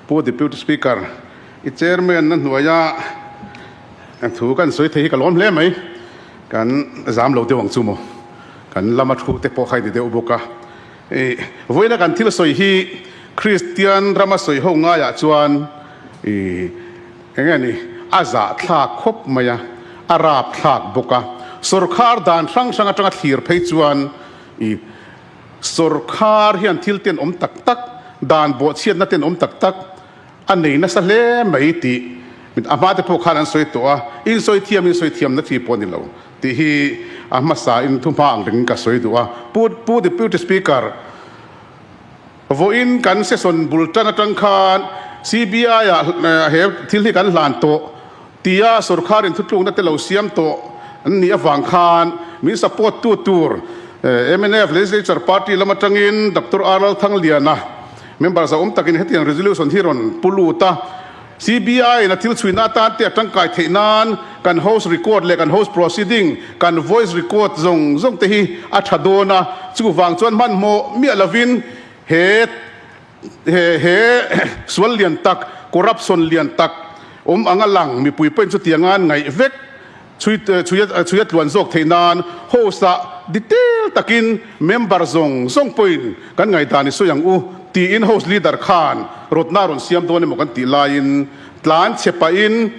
Pu Deputy Speaker, i Chairman na hnuaia thu kan sawi thei hi ka lawm hle mai. Kan zam lo deuh ang chu maw? Kan lama thu te pawh kha i ni deuh bawk a. I vawiina kan thil sawi hi Kristian rama sawi ho ngaiah chuan i eng nge ni, a zahthlak khawp mai a, a rapthlak bawk a. Sorkar dan hrang hrang atanga thlir phei chuan i. Sorkar hian thil ten awm tak tak, dan bawhchhiatna ten awm tak tak a nei nasa hle mai tih a hmate pawh khan an sawi tawh a, insawi thiam insawi thiamna chi pawh a ni lo tih hi a hmasa in thu hma ang rengin ka sawi duh a. Pu Pu Deputy Speaker, vawiin kan session bul tang atang khan CBI-ah he thil hi kan hlan tawh, Tia sorkarin thutlukna te lo siam tawh an nih avang khan min support tu tur mnf legislature party lam atangin Doctor R Lalthangliana member zauh awm takin hetiang resolution hi rawn pu lut a, CBI ina thil chhuina atan te a tangkai theih nan kan house record leh kan house proceeding kan voice record zawng zawng te hi a tha dawn a, chuvang chuan hmanhmawh miah lovin he He he sual lian tak, corruption lian tak awm ang a lang, mipui pawhin chutiang a an ngaih vek. Chhui chhui a chhui a tluan zawk theih nan host ah detail takin member zawng zawng pawhin kan ngaihdan i sawi ang u tiin host leader khan rawtna rawn siam dawn emaw kan tih laiin tlan chhe pahin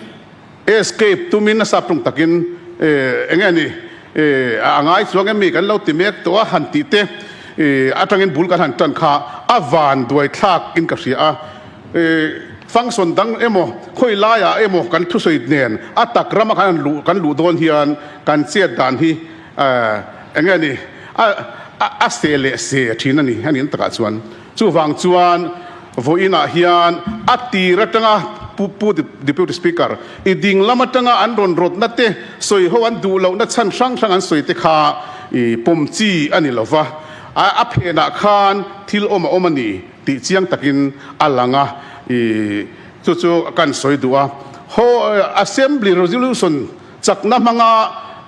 Escape tumin a saphlung takin eh enge anih eh a ngai chuang em mi kan lo ti mek tawh a han tih teh eh atangin bul kan han tan kha a van duai thlak in ka hria a eh function dang emaw khawi lai ah emaw kan thusawi nen a tak ram a kan luh dawn hian kan chet dan hi eh enge anih a seh leh seh thin anih a ni takah chuan. Chuvang chuan vawiin ah hian a tir atanga pu pu Deputy Speaker i ding lam atanga an rawn rawtna te, sawi ho an duh lohna chhan hrang hrang an sawi te kha i pawm chi a ni lo va, a phenah khan thil awm a awm a ni tih chiang takin a lang a, i chu chu kan sawi duh a. Haw Assembly Resolution chakna hmanga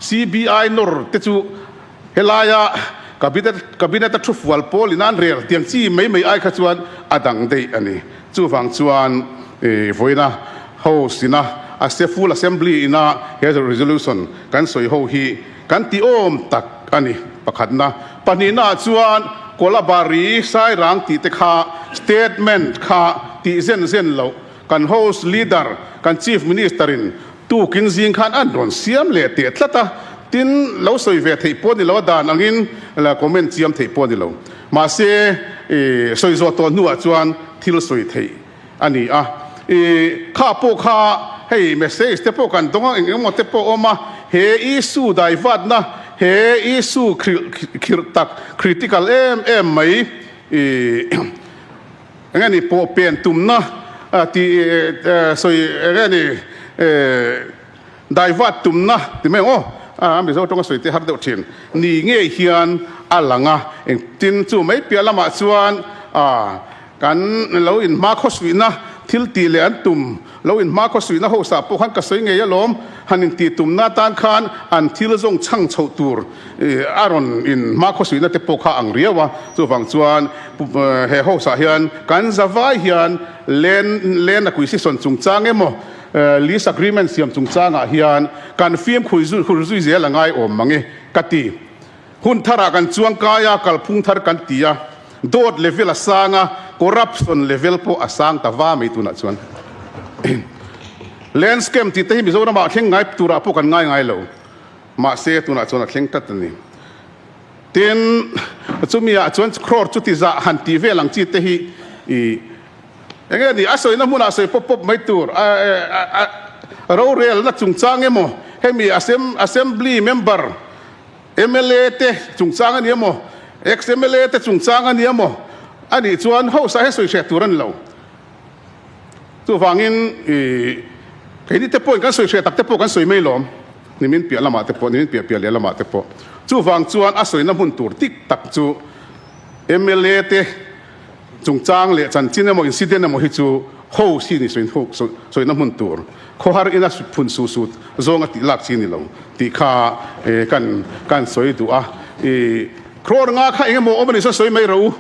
CBI nawr te chu, Helaia Cabinet Cabinet a thufual pawl in a an rel tiang chi mai mai ai kha chuan a dang daih a ni. Chuvang chuan vawiina House ina a se Full Assembly ina he resolution kan sawi ho hi kan ti awm tak a ni pakhatna. Pahnihnaah chuan Kolabari, Sairang tihte kha statement kha tih zen zen loh, Kan House Leader, kan Chief Minister in tukin zing khan an rawn siam leh teh tlat a, tin lo sawi ve theih pawh a ni lo a, dan angin comment chiam theih pawh a ni lo. Mahse, sawi zawh tawh hnuah chuan thil sawi theih a ni a. Kha pawh kha hei message te pawh kan dawng a, eng eng maw te pawh a awm a, he issue daivatna, he issue khirh khirh tak, critical em em mai. Eng a ni pawh pen tumna a ti sawi eng a ni daivat tumna ti mai ang aw a mizo tawng a sawi tih har deuh thin ni ngei hian a lang a eng tin chu mai piah lamah chuan a kan lo in hma khaw suihna thil tih leh an tum Lo in hma khaw suihna hausa pawh khan ka sawi ngei alawm han in tih tumna atan khan an thil zawng chhang chhoh tur a rawn in hma khaw suihna te pawh kha ang riau a, chuvang chuan he hausa hian kan za vai hian land land acquisition chungchang emaw lease agreement siam chungchang ah hian kan fimkhur zui zel angai awm mange ka ti. Hun thar ah kan chuang kai a, kalphung thar kan ti a, dawt level a sang a, corruption level pawh a sang ta va mai tunah chuan land scam tih te hi Mizoram ah thleng ngai turah pawh kan ngai ngai lo, mahse tunah chuan a thleng tlat a ni. Tin, chumi ah chuan crore chuti zah han tih vel ang chi te hi eng nge ni, a sawina hmun ah sawi pawp pawp mai tur, rorelna chungchang emaw hemi assembly member, Mla te chungchang a nia maw? Ex mla te chungchang a nia maw? A nih chuan hausa hi sawi hriat tur a ni lo. Chuvangin keini te pawhin kan sawi hriat tak te pawh kan sawi mai lawm. Nimin piah lamah te pawh, nimin piah piah leh lamah te pawh. Chuvang chuan a sawina hmun tur tik tak chu mla te, Chungchang leh chanchin emaw incident emaw hi chu hou si ni sawina hmun tur khawhar ina phun suh suh zawng a tih lak chi ni lo tih kha kan sawi duh a, crore nga kha engemaw awm a ni sa sawi mai reh u,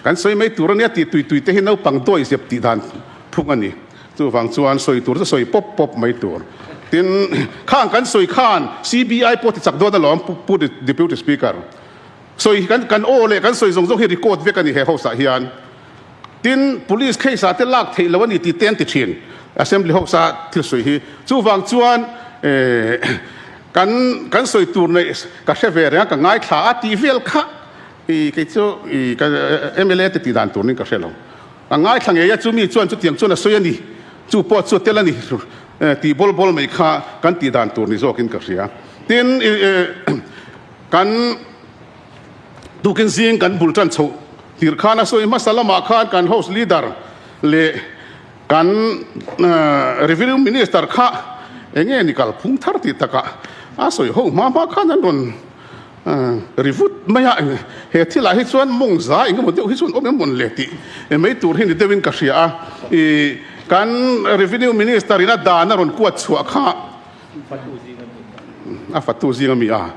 kan sawi mai tur a nia tih tui tui te hi naupang dawi zep tih dan phung a ni, chuvang chuan sawi tur chu sawi pawp pawp mai tur tin khang kan sawi khan CBI pawh tichak dawn alawm Pu Deputy Speaker. Sawi kan kan aw leh kan sawi zawng zawng hi record vek a ni he hose ah hian. Tin, police case ah te lak theih lo a ni tih te an ti thin. Assembly hose a thil sawi hi. Chuvang chuan eh kan kan sawi tur nei ka hre ve reng a, ka ngaithla a tih vel kha i kei chu i ka mla te tih dan tur nin ka hre lo. Ka ngaithla ngei a chu mi chuan chutiang chuan a sawi a ni, chu pawh chu a tel a ni tih bawl bawl mai kha kan tih dan tur ni zawk in ka hria. Tin eh Kan tukin zing kan bul tan chhoh tir khan a sawi. Hmasa lamah khan kan House Leader leh kan Revenue Minister kha eng nge ni kal phung thar tih taka a sawi ho hma hma khan an rawn ri vut mai a. He thil ah hi chuan mawng za eng emaw deuh hi chuan awm em mawn le tih mai tur hi ni deuh in ka hria a. I kan Revenue Minister in a dan a rawn kuat chhuah kha. A fatu zing a mi a,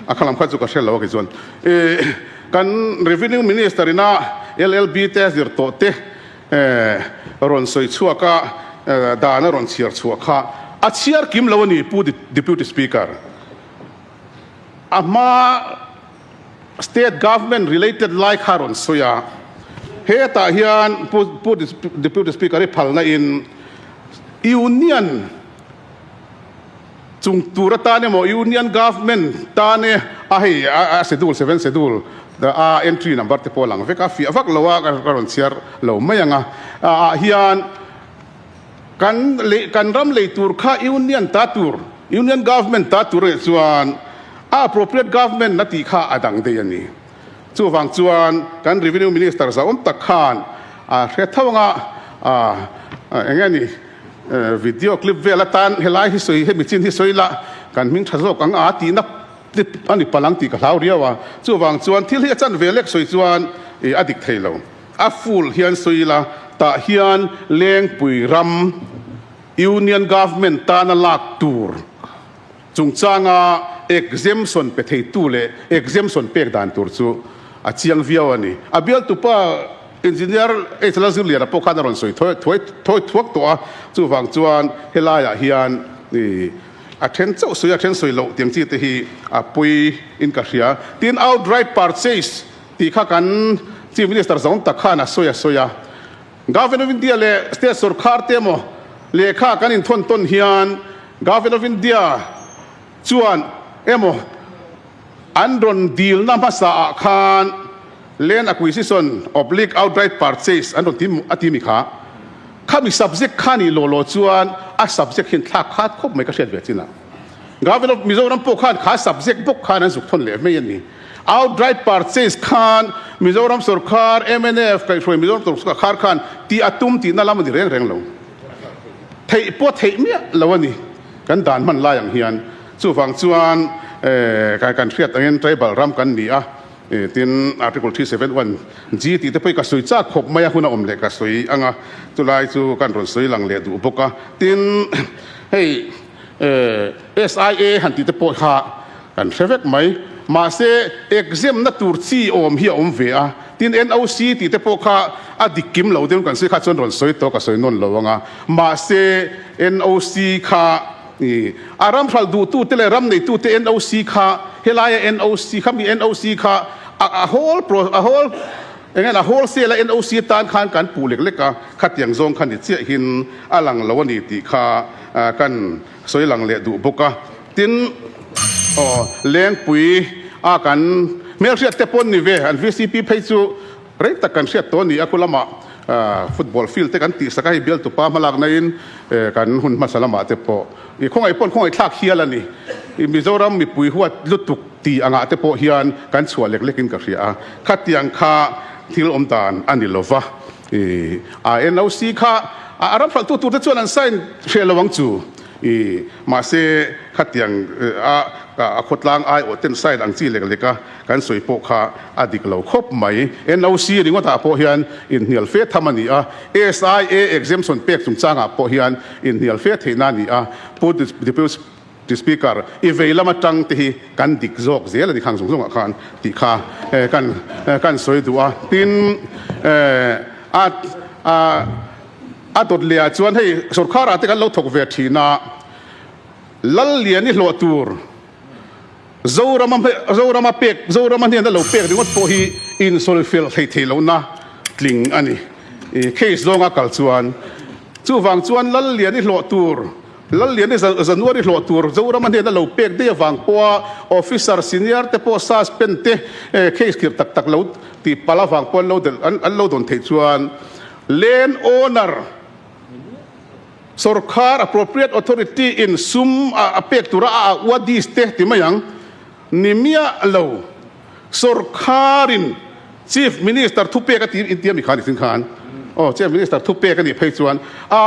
a khalam kha chu ka hrelo a ke chuan i kan Revenue Minister ina LLB te a zir tawh te rawn sawi chhuak a, dan a rawn chhiar chhuah kha a chhiar kim lo a ni Pu Deputy Speaker. A hma state government related lai kha rawn sawi a, hetah hian pu deputy speaker i phal na in union chung tur atan emaw union government tan e a hei a schedule seven schedule a entry number te pawh a lang vek a fiah vak lo a ka rawn chhiar lo mai ang a ah hian Kan leh kan ram lei tur kha Union ta tur, Union Government ta tur leh chuan a appropriate government a tih kha a dang daih a ni. Chuvang chuan kan Revenue Minister zauawm tak khan a hre tho anga a eng nge ni video clip vel atan helai hi sawi hemi chin hi sawi la kan hming tha zawk anga tihna clip a ni pal ang tih ka hlau riau a. Chuvang chuan thil hi a chanve lek sawi chuan a dik thei lo. A full hian sawi ila, tah hian Lengpui ram Union Government tan a lak tur chungchanga exemption pe theitu leh exemption pek dan tur chu a chiang viau a ni. A bialtupa Engineer Echala Zirliana pawh khan a rawn sawi thawi thuak tawh a, chuvang chuan helaiah hian a then chauh sawi a then sawi loh tiang chi te hi a puiin ka hria. Tin outright purchase. tih kha kan Chief Minister zawng tak khan a sawi a sawi a. Government of India leh State sorkar te emaw lehkha kan inthawn tawn hian Government of India chuan emaw an rawn dilna hmasa ah khan Land Acquisition oblique Outright Purchase an rawn ti a ti mi kha khami subject kha ni law law chuan a subject hian thlak khat khawp mai ka hriat ve chin a. Government of Mizoram pawh khan kha subject bawk khan an zuk thawn leh mai a ni. Outright purchase khan Mizoram sawrkar, MNF, kaihhruai Mizoram sawrkar khan ti a tum tihna lam a ni reng reng lo. Theih pawh theih miah lo a ni kan dan hman lai ang hian. Chuvang chuan eh kan hriat angin tribal ram kan ni a, tin Article three seven one G tih te pawh ka sawi chak khawp mai a, hun a awm leh ka sawi ang a, chulai chu kan rawn sawi lang leh duh bawk a. Tin hei. Eh, SIA han tihte pawh kha kan hre vek mai. Mahse, exam na tur chi awm hi a awm ve a, tin NOC tihte pawh kha a dik kim lo dawn kan si kha chuan rawn sawi tawh ka sawi nawn lo ang a. Mahse, NOC kha i a ram hral duhtute leh ram neitute NOC kha helai a NOC kha mi NOC kha a a whole pro a whole eng nge a whole sale a NOC atan khan kan puh lek lek a, khatiang zawng kha ni chiahin a lang lo a ni tih kha a kan sawi lang leh duh bawk a tin aw lengpui a kan hmel hriat te pawn ni ve an vcp phei chu rei tak kan hriat tawh a ni a khulama football field te kan tihsak a hei bialtupa hma lak naiin kan hun hmasa lamah te pawh i khawngaih pawn khawngaih thlak hial a ni i Mizoram mipui huat lutuk tih angah te pawh hian kan chhuah lek lek in ka hria a khatiang kha thil awm dan a ni lova. Ih, NOC kha a ramhlawhtu tur te chuan an sign hreh lo ang chu. Ih, mahse khatiang a a khawtlang ai aw ten sign ang chi lek lek a kan sawi pawh kha a dik lo khawp mai. NOC ringawtah pawh hian inhnial fe tham a ni a, SIA exemption pek chungchangah pawh hian inhnial fe theihna a ni a, Pu Deputy Ti Speaker, i vei lam atang te hi kan dik zawk zel a ni khang zung zung ah khan tih kha kan kan sawi duh a. Tin a a a dawt leh ah chuan hei sorkar ah te kan lo thawk ve thin a lal lian i hlawh tur Zorama Zorama pek Zorama hnen a lo pek ringawt pawh hi insawi fel thei thei lo na tling a ni. Case zong a kal chuan chuvang chuan lal lian i hlawh tur, Lallian hi January hlawh tur Zorama hnena lo pek daih avang pawha Officer Senior te pawh Suspend te case khirh tak tak lo ti palh avang pawh an lo dawn theih chuan Land Owner Sorkar Appropriate Authority in sum a pek tura a auh a dies te ti mai ang ni miah lo. Sorkarin Chief Minister thupek a tir intia mi kha nihchin khan aw Chief Minister thupek a nih phei chuan a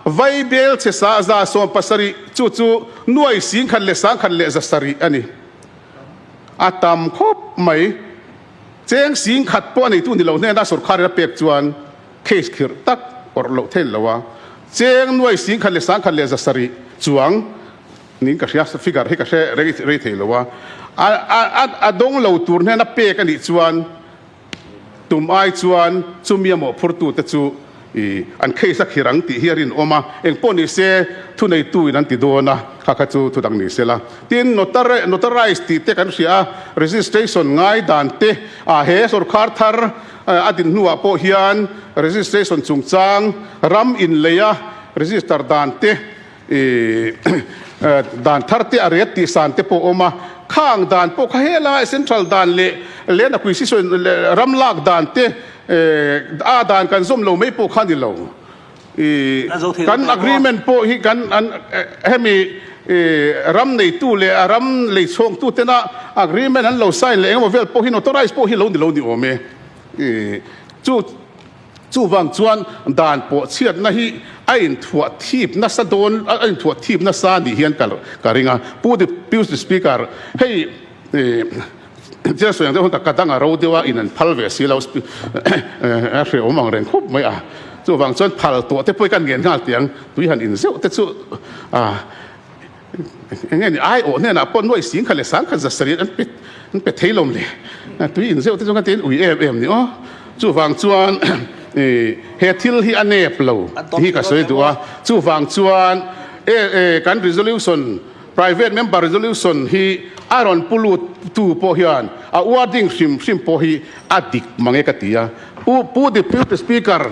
vai bel chhe sa za sawm pasarih chu chu nuai sing khat leh sang khat leh za sarih a ni. A tam khawp mai. Cheng sing khat pawh a neitu ni lo hnena sorkarin a pek chuan case khirh tak awrh loh theilo a cheng nuai sing khat leh sang khat leh za sarih chuang Ning ka hria, figure hi ka hre rei rei thei lo a, a a dawng lo tur hian a pek a nih chuan tum ai chuan chumi a mawhphurtu te chu i an case a khir ang tih hi a rinawm a, engpawh ni se thuneitu-in an ti dawn a, kha kha chu thudang ni se la. Tin, notarized tih te kan hria a, registration ngai dan te ah he sorkar thar a din hnuah pawh hian registration chungchang ram inleia register dan te I dan thar te a riat tih san te pawh a awm a, khang dan pawh kha hela e central dan leh Lehna Quisition ram lak dan te a dan kan zawm lo mai pawh kha a ni lo. I kan agreement pawh hi kan hemi ram neitu leh a ram lei chhawngtu tena agreement an lo sign leh engemaw vel pawh hi notorize pawh hi a lo ni lo ni awm e. I chu Chuvang chuan dan pawh chhiatna hi a inthuah thip nasa dawn, a inthuah thip nasa a nih hian ka ring a. Pu Dip, Pu Speaker, hei Chirsawiang deuh hun ta ka dang a ro deuh a, in an phal ve si lo, a hreawm ang reng khawp mai a. Chuvang chuan phal tawh te pawh i ka an ngen nghal tih ang, tui han in zeuh te chu a. Eng nge ni? Aiawh hnenah pawh nuaih sing khat leh sang khat zasarih an pe an pe thei lawm le. Tui inzeuh te chu kan tiin ui em em ni aw. Chuvang chuan i he thil hi a nep lo tih hi ka sawi duh a. Chuvang chuan e e kan resolution private member resolution hi a rawn pu lut tu pawh hian a uar ding hrim hrim pawh hi a dik mang e ka ti a. Pu Pu Deputy Speaker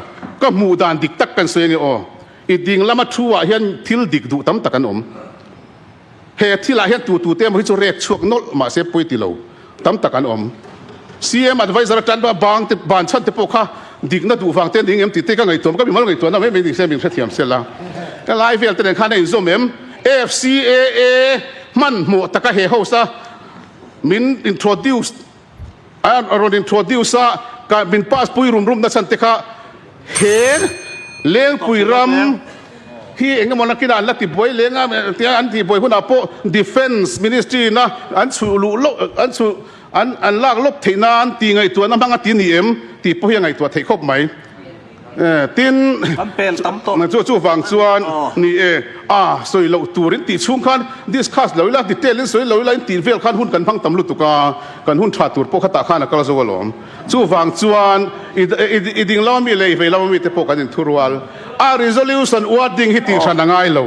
ka hmuh dan dik tak kan sawi ange aw. I ding lama thu ah hian thil dik duh tam tak an awm. He thil ah hian tu tu te emaw hi chu rek chhuak nawlh mah se pawi ti lo tam tak an awm. CM advisor atan ba bang te ban chhan te pawh kha dik na duh vang te ning em ti te ka ngaihtuah ka bimal ngaihtuah na mai mai ni se min hrethiam sel a. Ka lai vel te nen khan a in zawm em? AFCAA hman hmawh taka he host a min introduce An a rawn introduce a, kan min pass pui rum rum nasa te kha he Lengpui ram hi eng emaw nakina an la ti buai leng a tia an ti buai hunah pawh Defence Ministry ina an chhuh luh lawk an chhuh an an lak lawk theih nan ti ngaihtuahna hmang a ti ni em? Tih pawh hi a ngaihtuah theih khawp mai. Tin, na chu chuvang chuan ni e, a sawi loh tur in tih chhung khan discuss lo ila detail in sawi lo ila in tih vel khan hun kan hmang tam lutuk a, kan hun tha tur pawh khatah khan a kal zo alawm. Chuvang chuan i ding lama mi leh i vei lama mi te pawh kan in thurual a, resolution uar ding hi tih hran a ngai lo.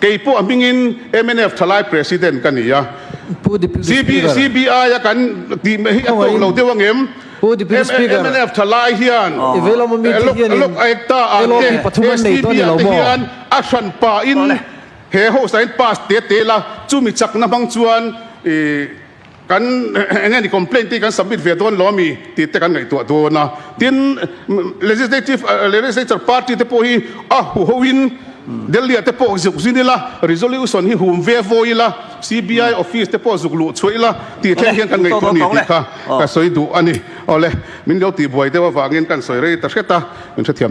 Kei pawh a hmingin mnf thalai president ka ni a. CBI a kan tih mai hi a tawh lo deuh ang em? Mnf thalai hian Lok Ekta an nge STB an te hian a hran pahin he hausa in pass te tel a, chumi chakna hmang chuan Kan enge ni complaint te hi kan submit ve dawn lo a mi tih te kan ngaihtuah dawn a. Tin, legislative, legislature party te pawh hi a huho in Delhi-ah te pawh zuk zin ila, resolution hi hum ve vawi ila, CBI office te pawh zuk luh chhuah ila tih thleng hian kan ngaihtuah a ni tih kha ka sawi duh a ni. Awle, min lo tihbuai deuh avangin kan sawi rei ta hret a, min hrethiam.